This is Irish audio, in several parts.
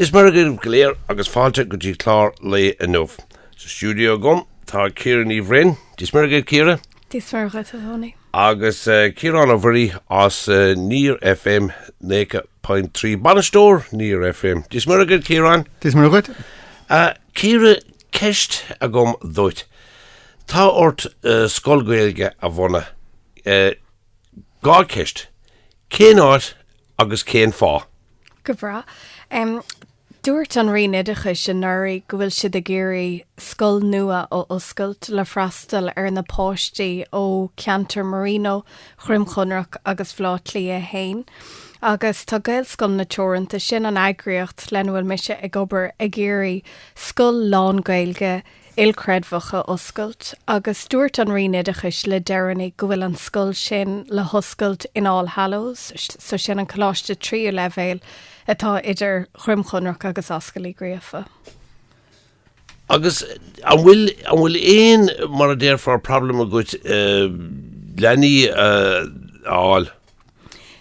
Dia is Muire dhaoibh go léir agus fáilte go dtí clár an lae inniu. Sa stiúideo agam tá Ciara Ní Bhroin. Dia is Muire dhuit Ciara. Dia is Muire dhuit a Thony. Agus Ciarán Ó Muirí as Near FM 90.3, bainisteoir Near FM. Dia is Muire dhuit Ciarán. Dia is Muire dhuit. Ciara, ceist agam duit. Tá ort scoil Gaeilge a bhunú. Dhá cheist, cén áit agus cén fáth? Go breá. Dúirt an Roinn Oideachais anuraidh go bhfuil siad ag iarraidh scoil nua a oscailt le freastal ar na páistí ó cheantar Marino, Dhroim Chonrach agus Bhaile Átha Cliath 1. Agus tá Gaelscoileanna Teoranta, sin an eagraíocht lena bhfuil mise ag obair, ag iarraidh scoil lán-Ghaeilge ilchreidmheach a oscailt agus dúirt an Roinn Oideachais le deireanaí go bhfuil an scoil sin le hoscailt in All Hallows, so sin an coláiste tríú leibhéal atá idir Dhroim Chonrach agus Ascaill Uí Ghríofa. Agus an bhfuil, an bhfuil aon, mar a déarfá, problem agat leanaí a fháil?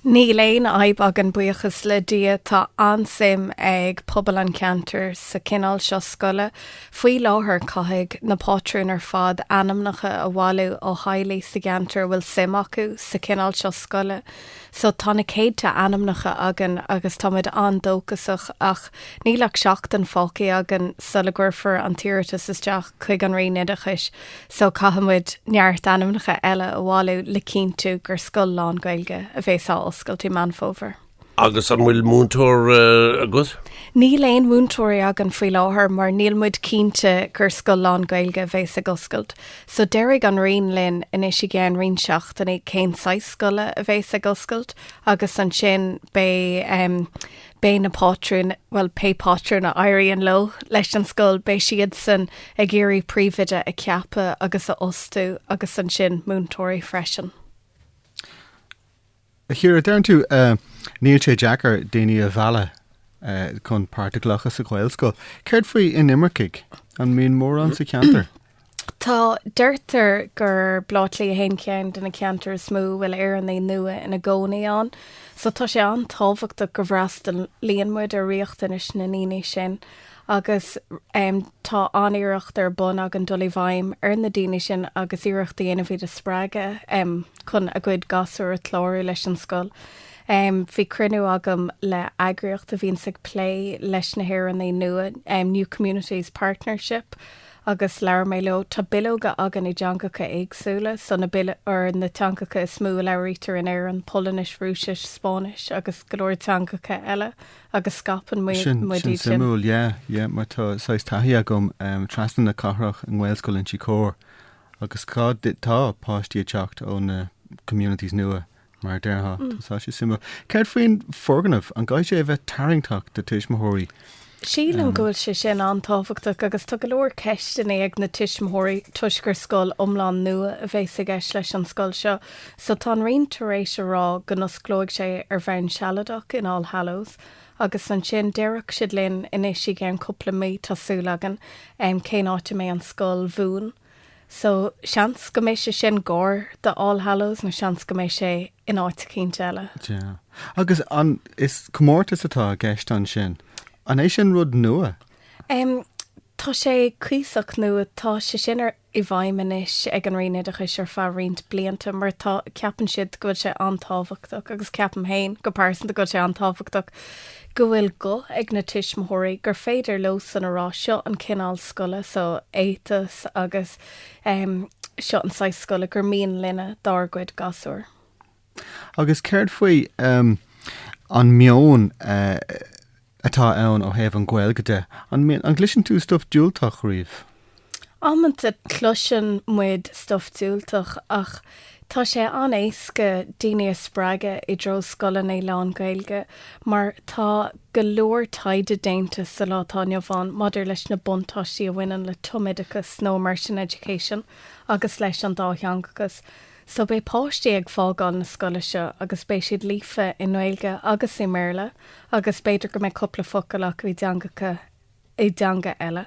Níl aon fhadhb againn buíochas le Dia, tá an-suim ag pobal an cheantair sa chineál seo scoile faoi láthair. Caithfidh na pátrúin ar fad ainmneacha a bhailiú ó theaghlaigh sa gceantar a bhfuil suim acu sa chineál seo scoile so tá na céadta ainmneacha againn agus táimid an-dóchasach ach níl ach seachtain fágthaí againn sula gcuirfear an t-iarratas isteach chuig an Roinn Oideachais. so caithfidh muid neart ainmneacha eile a bhailiú le cinntiú gur scoil lán-Ghaeilge a bhéas á oscailt i Meán Fómhair. Agus an bhfuil múinteoir uh, agat? Níl aon mhúinteoirí againn faoi láthair mar níl muid cinnte gur scoil lán-Ghaeilge a bhéas ag oscailt, so déarfaidh an Roinn linn anois i gceann roinnt seachtainí cén saghas scoile a bhéas ag oscailt agus ansin beidh um, Beidh na pátrúin, bhuel, pé pátrún a éiríonn leo, leis an scoil, beidh siadsan ag iarraidh príomhoide a cheapadh agus a fhostú agus ansin múinteoirí freisin. A Chiara, deireann tú níl sé deacair daoine a mhealladh chun páirt a ghlacadh sa Ghaelscoil. Céard faoi inimircigh? An mbíonn mórán sa cheantar? Tá. Deirtear gur Baile Átha Cliath 1 ceann de na ceantair is mó a bhfuil Éireannaigh nua ina gcónaí ann so tá sé an-tábhachtach go bhfreastalaíonn muid ar riachtanais na ndaoine sin agus tá an-iarracht ar bun againn dul i bhfeidhm ar na daoine sin agus iarracht a dhéanamh iad a spreagadh chun a gcuid gasúr a chlárú leis an scoil. Bhí cruinniú agam le heagraíocht a bhíonns ag plé leis na hÉireannaigh nua, New Communities Partnership, agus labhair mé leo. Tá bileoga againn i dteangacha éagsúla so na bil- ar na teangacha is mó a labhraítear in Éirinn, Polainnis, Rúisis, Spáinnis agus go leor teangacha eile agus scaipeann muid iad sin. Sin suimiúil, yeah, yeah, mar tá saghas taithí agam um, trasna na cathrach i nGaelscoil Inse Chór agus cá tá páistí ag teacht ó na communities nua Mar a déarfá, tá sé suimiúil. Céard faoin bhfoirgneamh, an gcaithfidh sé a bheith tarraingteach do thuismitheoirí? Sílim go bhfuil sé sin an-tábhachtach agus tá go leor ceisteanna ag na tuismitheoirí toisc gur scoil iomlán nua a bhéas i gceist leis an scoil seo. So tá an Roinn tar éis a rá go n-osclóidh sé ar bhonn sealadach in All Hallows agus ansin déarfaidh siad linn anois i gceann cúpla mí, tá súil againn, cén áit a mbeidh an scoil bhuan. So, seans go mbeidh sé sin cóngarach do All Hallows nó seans go mbeidh sé in áit eicínt eile. Yeah. Agus an, is comórtas atá i gceist ansin. An é sin rud nua? Um, tá sé cuíosach nua. Tá sé sin ar, i bhfeidhm anois ag an Roinn Oideachais ar feadh roinnt blianta mar tá, ceapann siad go bhfuil sé an-tábhachtach agus ceapaim fhéin go pearsanta go bhfuil sé an-tábhachtach. go bhfuil guth ag na tuismitheoirí, gur féidir leosan a rá seo an cineál scoile so éiteas agus em seo an saghas scoile gur mian linne dár gcuid gasúir. Agus céard faoi em an meon eh atá ann ó thaobh an Ghaeilge de? An mian, an gcloiseann tú stuif diúltach riamh? Amanna cloiseann muid stuif diúltach ach tá sé an-éasca daoine a spreagadh i dtreo scoileanna lán Gaeilge mar tá go leor taighde déanta sa lá atá inniu ann maidir leis na buntáistí a bhaineann le tumoideachas nó immersion education agus leis an dátheangachas so beidh páistí ag fágáil na scoile seo agus beidh siad líofa i nGaeilge agus i mBéarla agus b'fhéidir go mbeidh cúpla focal acu i dteangacha i dteanga eile.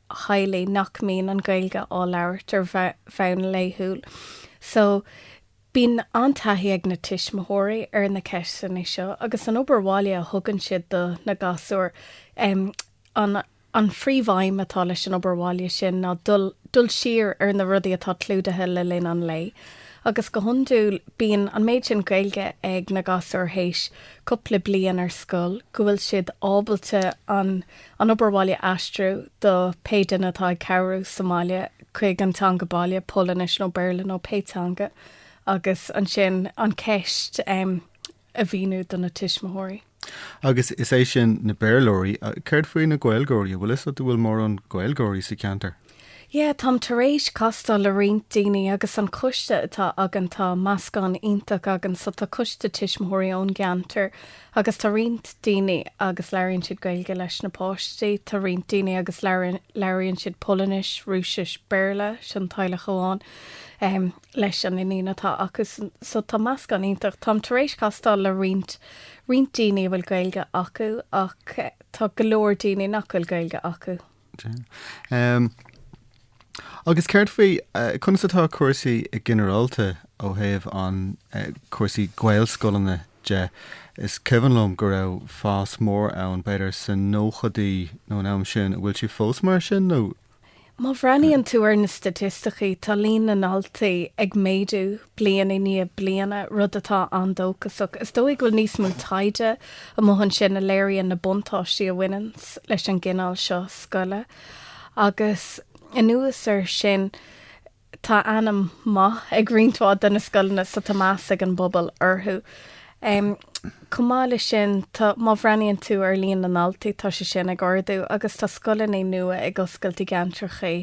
theaghlaigh nach mbíonn an Ghaeilge á labhairt ar bhonn laethúil so bíonn an-taithí ag na tuismitheoirí ar na ceisteanna seo agus an obair bhaile a thugann siad do na gasúir. An phríomhaidhm atá leis an obair bhaile sin ná dul siar ar na rudaí atá clúdaithe le linn an lae agus go hiondúil bíonn an méid sin Gaeilge ag na gasúir théis cúpla bliain ar scoil go bhfuil siad ábalta an An obair bhaile a aistriú do pé duine atá ag cabhrú sa mbaile chuig an teanga baile, Polainnis nó Béarla nó pé teanga, agus ansin an cheist a mhíniú do na tuismitheoirí. Agus is é sin na Béarlóirí. Céard faoi na Gaeilgeoirí? An bhfuil fhios a't an bhfuil mórán Gaeilgeoirí sa cheantar? Yeah, táim tar éis castáil le roinnt daoine agus an coiste atá againn tá meascán iontach againn so tá coiste tuismitheoirí ón gceantar agus tá roinnt daoine agus labhraíonn siad Gaeilge leis na páistí, tá roinnt daoine agus labhraíonn labhraíonn siad Polainnis, Rúisis, Béarla, sin teaghlach amháin, em, leis an iníon atá acu san- so tá meascán iontach. Táim tar éis castáil le roinnt roinnt daoine a bhfuil Gaeilge acu ach eh, tá go leor daoine nach bhfuil Gaeilge acu. Agus céard faoi, conas atá cúrsaí i ginearálta ó thaobh an, cúrsaí Gaelscoileanna de? Is cuimhin liom go raibh fás mór ann, b'fhéidir sa nóchaidí nó an am sin. An bhfuil sé fós mar sin nó? Má bhreathnaíonn tú ar na staitisticí, tá líon na ndaltaí ag méadú bliain i ndiaidh bliana, rud atá an-dóchasach. Is dóigh go bhfuil níos mó taighde amuigh ansin a léiríonn na buntáistí a bhaineann leis an gcineál seo scoile. Agus anuas air sin, tá ainm maith ag roinnt mhaith de na scoileanna so tá meas ag an bpobal orthu. Chomh maith leis sin, tá, má bhreathnaíonn tú ar líon na ndaltaí, tá sé sin ag ardú agus tá scoileanna nua ag oscailt i gceantracha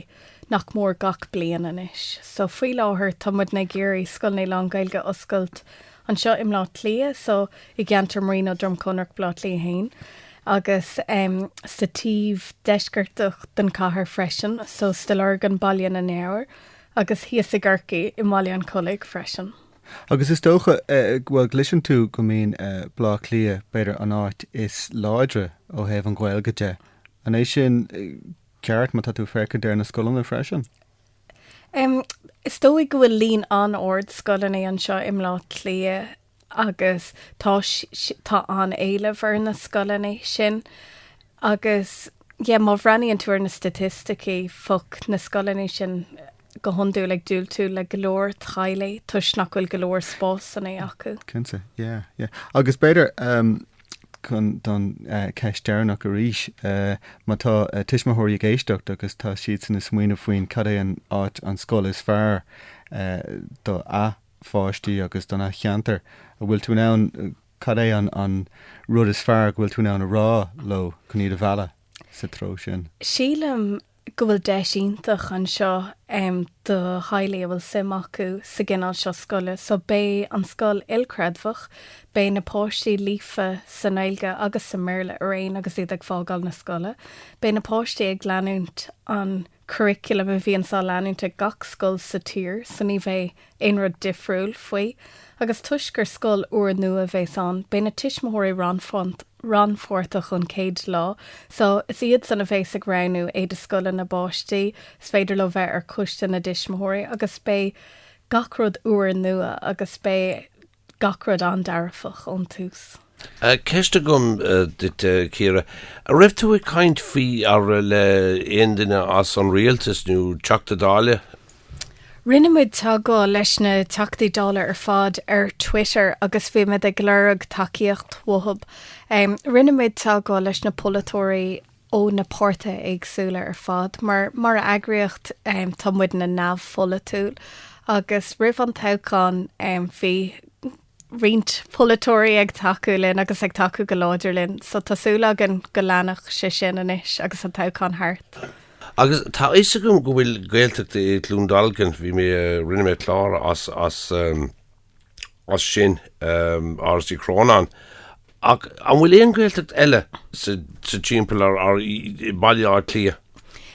nach mór gach bliain anois. So faoi láthair tá muidne ag iarraidh scoileanna lán-Ghaeilge a oscailt anseo i mBleá Cliath, so i gceantar Marino, Droim Conrach, Bleá Cliath a hAon agus em sa taobh deisceartach den chathair freisin, so Stigh Lorgan, Baile na nGabhar agus thíos i gCorcaigh i mBaile an Chollaigh freisin. Agus is dócha eh bhuel gcloiseann tú go mbíonn eh Bleá Cliath b'fhéidir an áit is láidre ó thaobh an Ghaeilge de. An é sin eh ceart, má tá tú ag féachaint ar na scoileanna freisin. Em, is dóigh go bhfuil líon an-ard scoileanna anseo i mBlá Cliath agus tá tá an-éileamh ar na scoileanna sin agus yeah má bhreathnaíonn tú ar na staitisticí fo-, na scoileanna sin, go hiondúil ag diúltú le go leor teaghlaigh toisc nach bhfuil go leor spásanna acu. Cinnte, yeah, yeah. Agus b'fhéidir um, chun don uh, ceist deireanach arís, uh, má tá uh, tuismitheoirí ag éisteacht agus tá siadsan ag smaoineamh faoin cad é an áit an scoil is fearr uh, do a pháistí agus don a cheantar, an bhfuil tú in ann cad é an, an rud is fearr go bhfuil tú in ann a rá leo chun iad a mhealladh sa treo sin? Sílim go bhfuil deis iontach anseo do theaghlaigh a bhfuil suim acu sa gcineál seo scoile. So beidh an scoil ilchreidmheach, beidh na páistí líofa sa nGaeilge agus sa mBéarla araon agus iad ag fágáil na scoile. Beidh na páistí ag leanúint an curriculum a bhíonns á leanúint ag gach scoil sa tír so ní bheidh aon rud difriúil faoi agus toisc gur scoil úrnua a bhéas ann, beidh na tuismitheoirí rannpháirteach ón chéad lá so is iad san a bhéas ag roghnú éide scoile na bpáistí, is féidir leo bheith ar choiste na dtuismitheoirí agus beidh gach rud úr nua agus beidh. Gach rud an-dearfach ón tús. Ceist agam duit, a Chiara. An raibh tú ag caint faoi ar le aon duine as an Rialtas nó Teachta Dáile? Rinne muid teagmháil leis na Teachtaí Dála ar fad ar Twitter agus bhí muid ag lorg tacaíocht uathub. Rinne muid teagmháil leis na polaiteoirí. ó na páirtithe éagsúla ar fad. Mar mar eagraíocht tá muidne neamhpholaitiúil agus roimh an toghchán bhí roinnt polaiteoirí ag tacú linn agus ag tacú go láidir linn so tá súil againn go leanfaidh sé sin anois agus an toghchán thart. Agus tá a fhios agam go bhfuil Gaeltacht i gCluain Dolcáin, bhí mé, rinne mé clár as, as, as sin Áras Uí Chrónáin ach an bhfuil aon Ghaeltacht eile sa timpeall ar Bhaile Átha Cliath?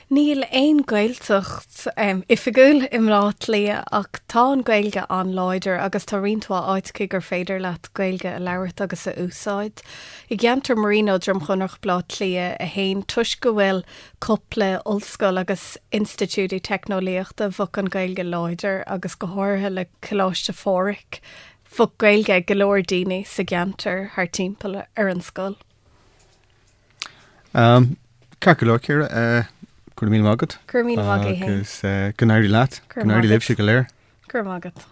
Níl aon Ghaeltacht oifigiúil i mBleá Cliath ach tá an Ghaeilge an-láidir agus tá roinnt mhaith áiteacha gur féidir leat Gaeilge a labhairt agus a úsáid. I gceantar Marino, Droim Chonrach, Bleá Cliath 1, toisc go bhfuil cúpla ollscoil agus institiúidí teicneolaíochta bheadh an Ghaeilge láidir agus go háirithe le Coláiste Phádhraic bheadh Gaeilge ag go leor daoine sa gceantar thart timpeall ar an scoil. Am, ceart go leor Ciara, eh, go raibh míle maith agat. Go raibh míle maith agat, Shane. Agus eh, go n-éirí leat, go n-éirí libhse go léir. Go raibh maith agat.